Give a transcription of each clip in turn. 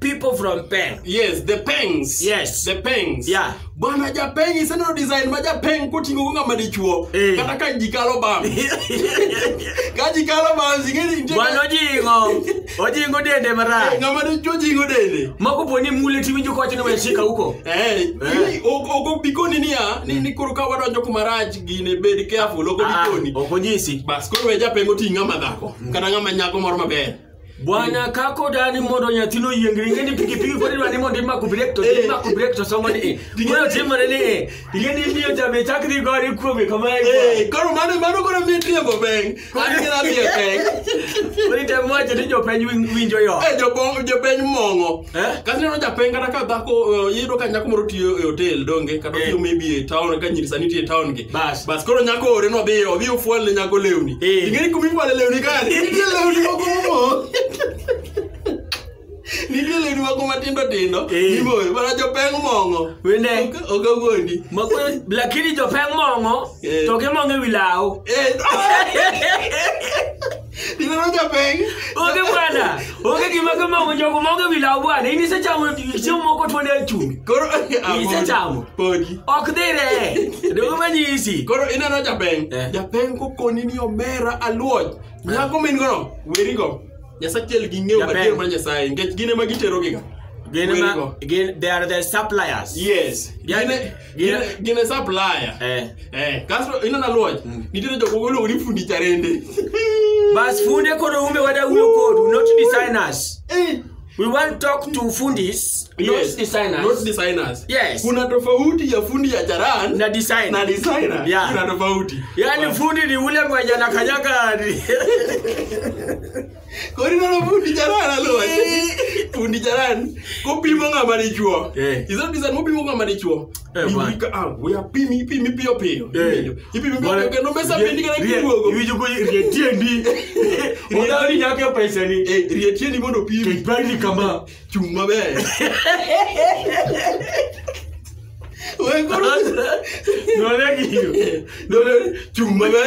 people from peng yes the pengs Yes. the pengs Yeah. bwana japeng iseneno design ma japeng koting'o go ng'ama dichuo Eh. kata ka ji kalo bam ka ji kalo bam zingeni nitie bwana ka- ojingo ojingo dende Eh, marach ng'ama dichuo jingo dende moko po ni mule tiwinjo kowacho ni weshika huko Eh, Eh. ili- ok- ok obikoni niya ni ni koro ka wadonjo kuma rach gine bed careful ok Ah, obikoni ok onyisi bas koro we japeng oting' ng'ama dhako kata ng'ama nyako moro maber Bwana kako dani mondo nyathino yieng ringe ni pikipiki pod idwa ni mondo imaku brek to Eh. imaku brek to somo ni eh. Ting'e- Moyo timore ni eh. Ting'e ni imiyo jabe chak dhi gore kuome kama e Eh, koro mano mano koro miyo tiembo peng. An gina miyo peng. kwa. Koro item wacho ni jopeny win- winjo yo. Eh, jopong- jopeny mong'o. Eh? Kasi neno japeng kata ka dhako eh, iyudo ka nyako moro tiyo e hotel donge kata Eh. otiyo maybe e town ka nyiri sani tiyo e town gi. Bas. Bas koro nyako ore no biyo obi ofwal ne nyako lewni. Eh. Ingeni kumi fwale lewni ka nitie lewni moko mo. Nitie lewni moko matindo tindo. Eh. Imoyo mana jopeng mong'o. Wende. Ok- Ok awuondi. Makwe- lakini jopeng mong'o Eh. to gimong'o e wi law Eh. Ineno japeng'. Onge bwana. Onge gima kama onge jogo ma onge wilaw bwana. In isechamo chiemo moko tuo ne chumbi. Koro Isechamo. Podi. Ok dhire. Dogo manyisi. Koro ineno japeng'. Eh. Japeng' kokoni ni omera aluoj. Nyako min gono, werigo. Nyasaye achiel gi ng'eyo Japeng'. madier mar Nyasaye nikech gin ema giterogiga. Gin ma Werigo. gin they are the suppliers. Yes. Gin e- Gine, gine supplier. eh. Eh, kasto ino na luoch. Nitiere jok moko iluongo ni fundi charende. bas funde kono umbe wada wuyo kodu not designers Eh, we want talk to fundis not yes. designers Not designers. Yes. Kuna tofauti ya fundi ya charan na design na designer. Yeah. Kuna tofauti. yani fundi ni ule mwenye anakanyaga Kori nono fundi jaran alot. Fundi jaran kopimo ng'ama dichuo. Eh. Izo bisan mopimo ng'ama dichuo. Eh, Ni man. wika ah we apimi ipimi piyo piyo. Eh. Ipimi piyo piyo kendo mesa bendi kana kiruogo. Iwinjo ko rie tiendi. Odawo ni nyaka e pesa ni. Eh rie tiendi mondo opimi. Kech bali kama. Chung' maber. We koro None giyo. Dole chung' maber.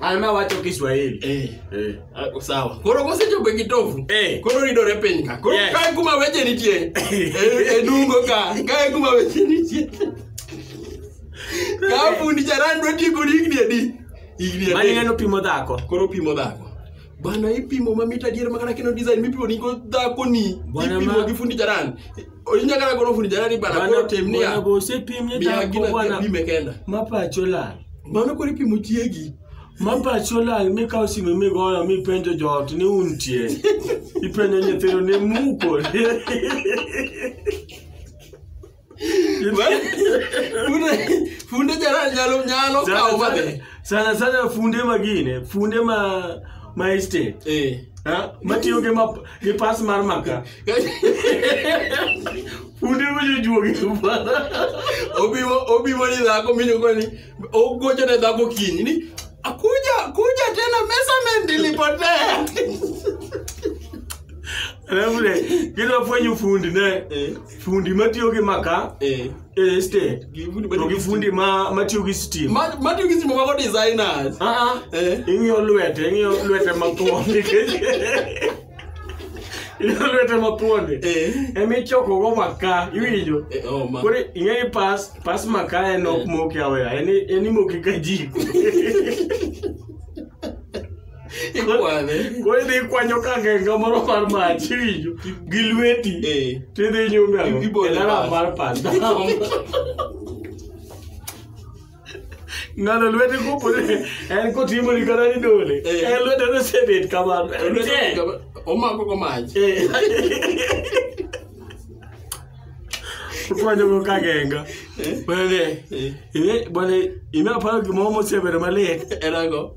Alma wacho Kiswahili. Eh. Eh. Ah, Sawa. Koro kosechopo e kitovu. Eh. Koro ridore piny ka. Koro Yes. kae kuma weche nitie. E e dungo ka. Kae kuma weche nitie. Ka fundi charan dwa tieko ni higni adi? Higni adi? Mani ng'ano pimo dhako. Koro pimo dhako. Bana ipimo mamit adier makana kino design mipimo ni go dhako ni. Bwana Ipimo ma- gi fundi charan. Onyagala golo fundi jalani bana Bana- koro tem niya. onego osepim ni Miya dhako gina bwana pime kenda. ma pacho lal Mano koro ipimo chiegi. ma pacho lal mikawo sime migoyo mipenjo joot ni untie ipenjo nyithindo ni muko Funde funde jalani nyalo nyalo kawo mabe. sana sana funde magine funde ma ma estate Eh. ha? matiyo gi map- gi pas mar maka Funde winjo juogi bana. Obiwo obiwo ni dhako minyo kwa ni ogocho ne dhako kinyi ni akuja akuja tena measurement ilipotea. Alafu ne kila fwenyo fundi ne Eh. fundi matiyo gi maka Eh. eh state. Gifundi To gi fundi ma matiyo gi steam. Ma ma tu kisi mwa designers. Ah ah. Eh. Ing'iyo lwete, ing'iyo lwete makwong' nikech Inyalo lwete mathuonde. Eh. Ema ichokogo maka, iwinjo? Eh, oh, ma. Koro ing'eyo ni pas, pas maka en ok moki aweya, en i- en imoki ka jiko. Ikwane. Koro idhi ikwanyo ka genga moro mar mach, iwinjo? Gi lweti. Eh. To idhi inyume ang'o? Ibole E laram pas. mar pas. ng'ano lwete kopore en kotimo ni kata ni dole Eh. en lwete nosebet kamano En Lwete te. kama- omako go mach Eh. okwanyogo kagenga Eh. bane Eh. bane ime aparo gimoro mosebedo malit en ango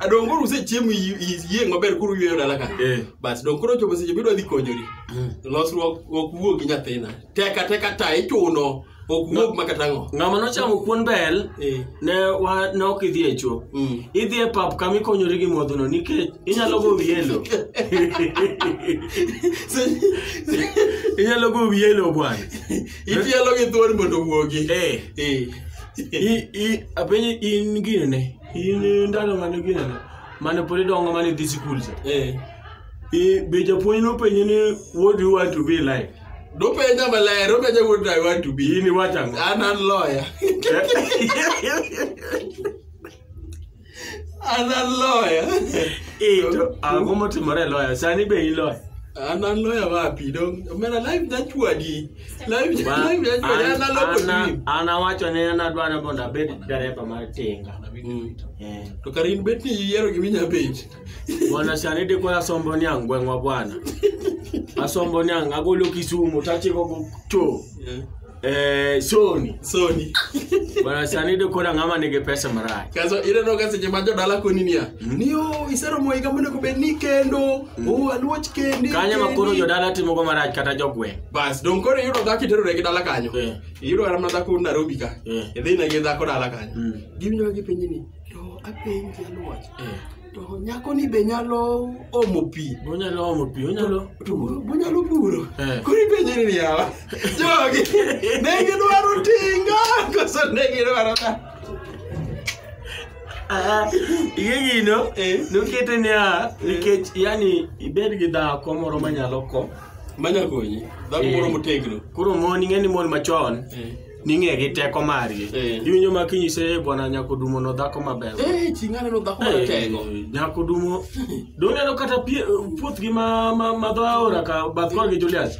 adong koro usechiemo i- i- iyieng' maber koro uyweyo dala ka Eh. bas dong koro ochopo seche midwa dhi konyori losruok ok wuog gi nyathina teka teka ta ichuno ok wuog ma kata ng'o ng'ama nochamo kuon bel Eh. ne wa- ne ok idhi e chuo Mm. idhi e pap kama ikonyori gi modhono nikech inyalo go wiye lo Se- inyalo go wiye lo bwana itielo gi thuon mondo wuogi Eh. Eh. I- i- apenji in gine in ndalo mane ginene mane pod idongo mane idhi sikul cha Eh. I- be japuonj nopenji ni what do you want to be like Dopenja maler, dopenja what I want to be. in iwacho ang'o An an lawyer. An an lawyer. Eh, to ang'o motimore e loya sani be iloya An an lawyer wapi? Dong, mera life nachwadi. Live- Ma- live judgment, an- ana loko ana- dream. an awacho ne an adwa ni mondo abed dereva mar tinga Mm. Eh. to kar in bet ni iyiero gima inya penjo bwana sani dikwa asombo ni ang' gweng'wa bwana asombo ni ang' agolo kisumu tachiko go to eh, soni soni bwana sani dikwa ng'ama nigi pesa marach kaso ineno ka seche ma jodala koni niya niyo iseromo higa monego bed ni kendo Oh, aluoch kendi. Kanye ma koro jodala timo go marach kata jogweng'. Bas, don koro iyudo dhako iterore gi dala kanyo. Eh. Iyudo kata mana dhako Nairobi ka. Eh. Idhi na gi dhako dala kanyo. Mm. Giwinjo gi penjo ni, to apenji aluoch. Eh. To nyako ni be nyalo omo pi. Onyalo omo pi, onyalo. To onyalo puro. Koro ipenjo ni yawa. Jogi. Ne gidwaro tinga. Koso ne gidwaro ta. Ah, iye gino Eh. nokete niya nikech yani ibed gi dhako moro manyalo ko manya konyi dhako Eh. moro motegno koro mon ing'eni mon machon Eh. ning'e gi teko margi Eh. iwinjo ma kinyise "Eh, bwana nyako dumo no dhako maber Eh, chi ng'ane no dhako Eh, maratego nyako dumo doneno kata pie- puothgi ma ma- ma dho aora ka bath korgi julius